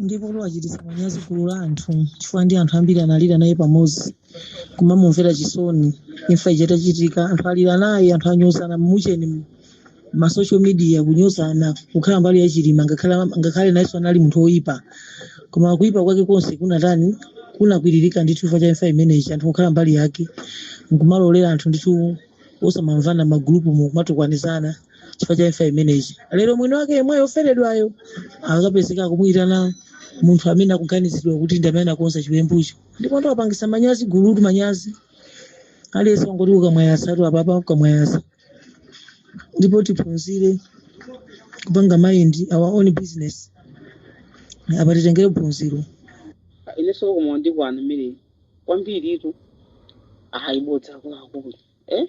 ndipo luwachititsa manyazi gulu la anthu chifukwa ndi anthu ambiri analira naye pamodzi kumamumvera chisoni imfa ija itachitika anthu alira naye anthu anyozana m'mucheni mu- ma social media kunyozana kukhala mbali ya chilima ngakhale ngakhale nayenso anali munthu woyipa koma kuyipa kwake konse kunatani kunakwiririka ndithu chifukwa cha imfa imeneyi anthu kukhala mbali yake nkumalolera anthu ndithu osamamvana magulupumu kumatukwanizana chifukwa cha imfa imeneyi lero mwini wake yemweyo oferedwayo akapezeka akumuyitana munthu amene akuganizidwa kuti ndi amene anakonza chiwembucho ndipo wapangisa manyazi gulutu manyazi aliyense wangoti ukamwayasa tu apapa ukamwayasa ndipo tiphunzire kupanga mind our own business apa titengere phunziro Ah, inenso koma ndikwana mmene kwambiritu ayibodza akuluakulu eh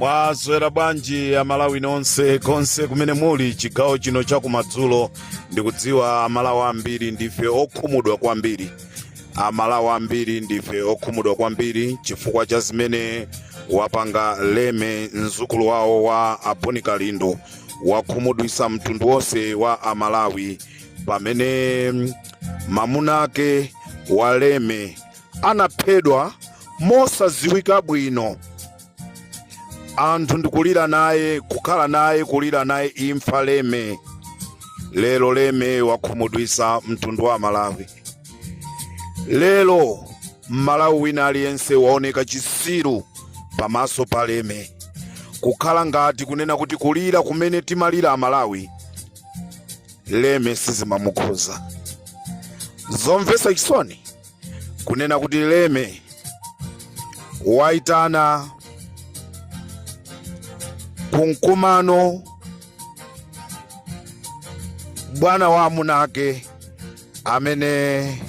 mwaswera bwanji amalawi nonse konse kumene muli chigawo chino chakumadzulo ndikudziwa amalawi ambiri ndife okhumudwa kwambiri amalawi ambiri ndife okhumudwa kwambiri chifukwa cha zimene wapanga leme mzukulu wawo wa aboni kalindo wakhumudwisa mtundu wonse wa amalawi pamene mm, mamuna ake wa leme anaphedwa mosadziwika bwino anthu ndikulira naye kukhala naye kulira naye imfa leme lero leme wakhumudwisa mtundu wa amalawi lero mmalawi wina aliyense waoneka chisiru pamaso pa leme kukhala ngati kunena kuti kulira kumene timalira amalawi leme sizimamukhuza zomvesa chisoni kunena kuti leme waitana ku mkumano bwana wa amuna ake amene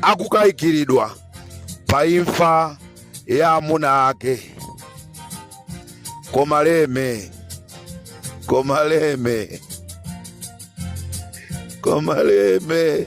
akukayikiridwa pa imfa ya amuna ake koma leme koma leme koma leme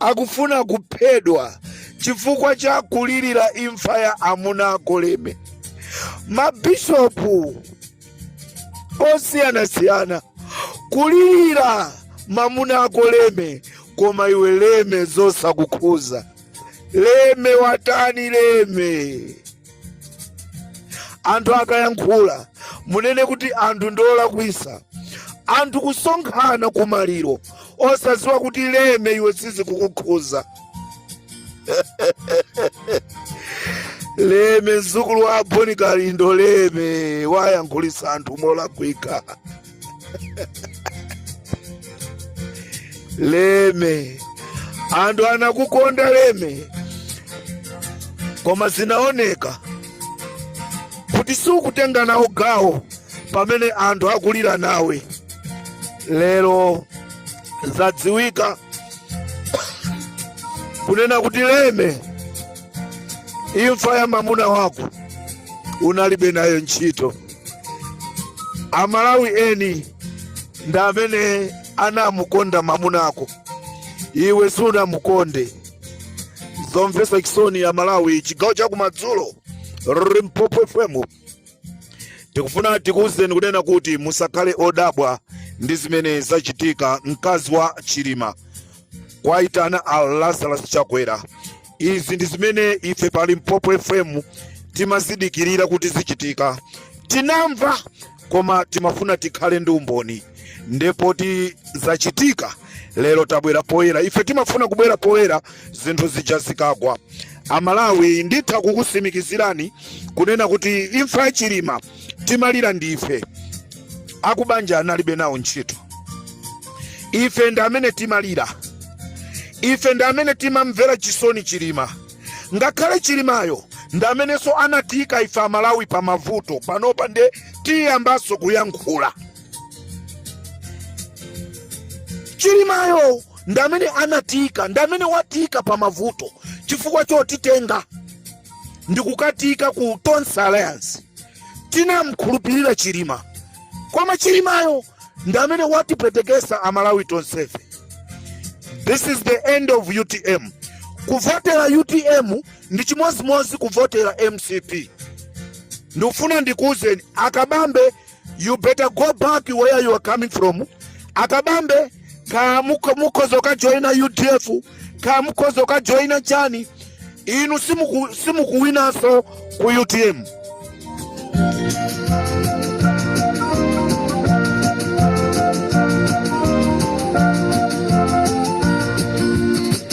akufuna kuphedwa chifukwa cha kulirira imfa ya amuna ako leme mabishopu osiyanasiyana kulirira mamuna ako leme koma iwe leme zosakukhuza leme watani leme anthu akayankhula munena kuti anthu ndiolakwisa anthu kusonkhana kumaliro osaziwa kuti Mary iwe sizikukukhuza Mary mzukulu wa a Bon Kalindo Mary wayankhulitsa anthu molakwika Mary anthu anakukonda Mary koma zinaoneka kuti sukutenga nawo gawo pamene anthu akulira nawe lero zadziwika kunena kuti Mary imfa ya mamuna wako unalibe nayo ntchito amalawi eni ndi amene anamukonda mamunako iwe sunamukonde zomvetsa chisoni amalawi chigawo cha kumadzulo limpopo fm tikufuna tikuwuzeni kunena kuti musakhale odabwa ndi zimene zachitika mkazi wa chilima kwaitana a lazarus chakwera izi ndi zimene ife pa limpopo fm timazidikirira kuti zichitika tinamva koma timafuna tikhale ndi umboni nde poti zachitika lero tabwera poyera ife timafuna kubwera poyera zinthu zija zikagwa amalawi nditha kukusimikizirani kunena kuti imfa ya chilima timalira ndife akubanja analibe nawo ntchito ife ndi amene timalira ife ndi amene timamvera chisoni chilima ngakhale chilimayo ndi amenenso anatiika ife amalawi pa mavuto panopa nde tiyambanso kuyankhula chilimayo ndi amene anatiika ndi amene watiika pa mavuto chifukwa chotitenga ndikukatiika ku tonse alliance tinamkhulupirira chilima koma chilimayo ndi amene watipweteketsa amalawi tonsefe this is the end of utm kuvotera utm ndi chimodzimodzi kuvotera mcp ndikufuna ndikuuzeni a kabambe you better go back where you are coming from akabambe ka muko- mukhoza ukajoyina udf ka mukhoza ukajoyina chani inu simuku- simukuwinanso ku utm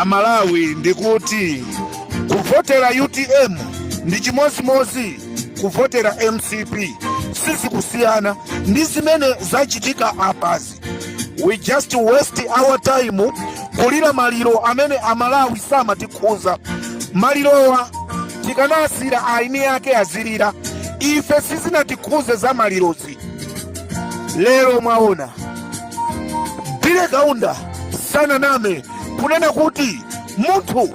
amalawi ndikuti kuvotera utm ndi chimodzimodzi kuvotera mcp sizikusiyana ndi zimene zachitika apazi we just waste our time kulira maliro amene amalawi samatikhuza malirowa tikanasiyira aini ake azilira ife sizinatikhudze za malirozi lero mwaona billy kaunda sananame kunena kuti munthu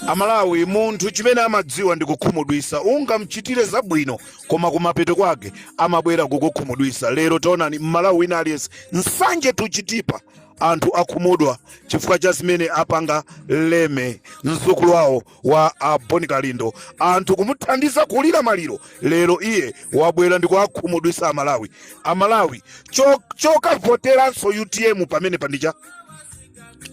Amalawi munthu chimene amadziwa ndi kukhumudwisa ungamchitire zabwino koma kumapeto kwake amabwera kukukhumudwisa lero taonani mmalawi wina aliyense nsanje to chitipa anthu akhumudwa chifukwa cha zimene apanga leme mzukulu wawo wa a bon kalindo anthu kumuthandiza kulira maliro lero iye wabwera ndikuwakhumudwisa amalawi amalawi cho- chokavoteranso utm pamenepa ndicha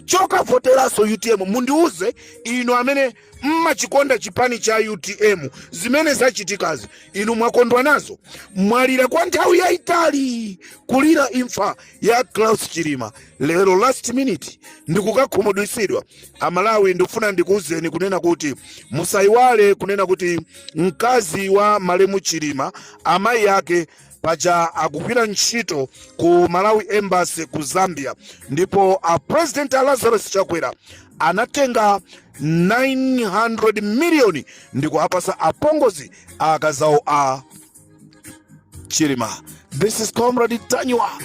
chokavoteranso utm mundiuze inu amene mmachikonda chipani cha utm zimene zachitikazi inu mwakondwa nazo mwalira kwa nthawi yayitali kulira imfa ya klaus chilima lero last minute ndikukakhumudwitsidwa amalawi ndikufuna ndikuuzeni kunena kuti musayiwale kunena kuti mkazi wa malemu chilima amayi ake paja akugwira ntchito ku malawi embassy ku zambia ndipo a president a lazarus chakwera anatenga 900 miliyoni ndikuapasa apongozi a akazawo a chilima this is comrade ntanyiwa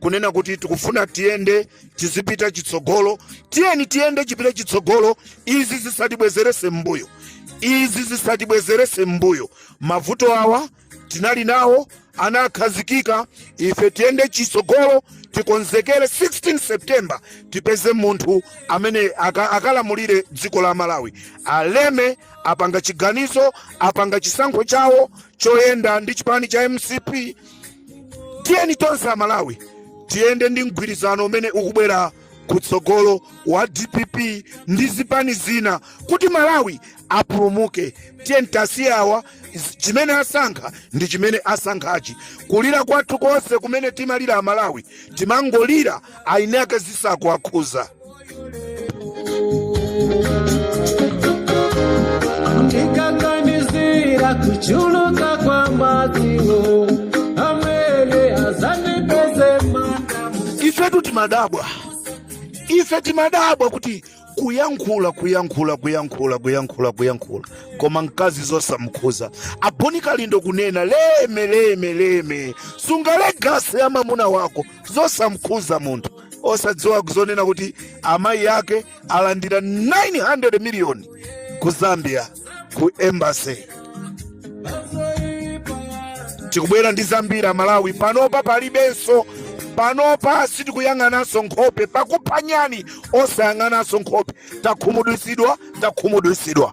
kunena kuti tikufuna tiyende tizipita chitsogolo tiyeni tiyende chipita chitsogolo izi zisatibwezerese m'mbuyo izi zisatibwezerese m'mbuyo mavuto awa tinali nawo anakhazikika ife tiyende chitsogolo tikonzekere 16 september tipeze munthu amene aka- akalamulire dziko la malawi aleme apanga chiganizo apanga chisankho chawo choyenda ndi chipani cha mcp tiyeni tonse amalawi tiyende ndi mgwirizano umene ukubwera kutsogolo wa dpp ndi zipani zina kuti malawi apulumuke tiyeni tiwasiye awa z- chimene asankha ndi chimene asankhachi kulira kwathu konse kumene timalira amalawi timangolira ayini ake zisakuwakhuza ndikaganizira kuchuluka kwa madziwo amene azandipeze manda ifetu timadabwa ife timadabwa kuti kuyankhula kuyankhula kuyankhula kuyankhula kuyankhula koma mkazi zosamkhuza a bon kalindo kunena leme leme leme sunga legacy ya mamuna wako zosamukhuza munthu osadziwa kuzonena kuti amayi ake alandira 900 miliyoni ku zambia ku embassy tikubwera ndi zambiri amalawi panopa palibenso panopa sitikuyang'ananso nkhope pakuphanyani osayang'ananso nkhope takhumudwitsidwa takhumudwitsidwa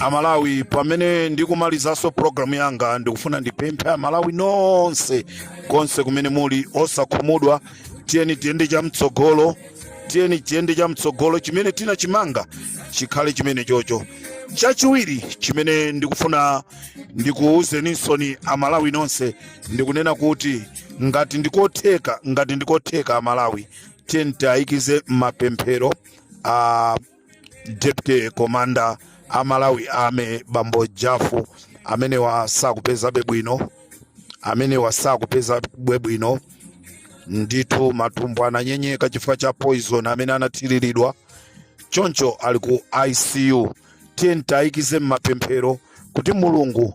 amalawi pamene ndikumalizanso programu yanga ndikufuna ndipemphe amalawi nonse konse kumene muli osakhumudwa tiyeni tiyende chamtsogolo tiyeni tiyende chamtsogolo chimene tinachimanga chikhale chimene chocho chachiwiri chimene ndikufuna ndikuwuzeninsoni amalawi nonse ndikunena kuti ngati ndikotheka ngati ndikotheka amalawi tiyeni tiayikize m'mapemphero a deputy commander a malawi army bambo jafu amenewa sakupeza bwino amenewa sakupezabe bwino ndithu matumbo ananyenyeka chifukwa cha poison amene anathiriridwa choncho ali ku icu tiyeni tiayikize m'mapemphero kuti mulungu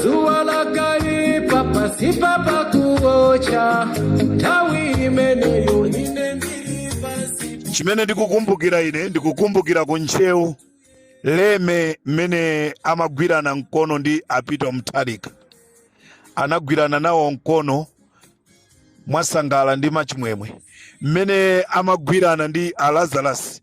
dzuwa lakaipa pasipa pakuocha nthawi imeneyo ine ndili pasi chimene ndikukumbukira ine ndikukumbukira ku ntcheu Lhomwe mmene amagwirana mkono ndi a Peter mutharika anagwirana nawo mkono mwasangala ndi mwachimwemwe mmene amagwirana ndi a Lazarus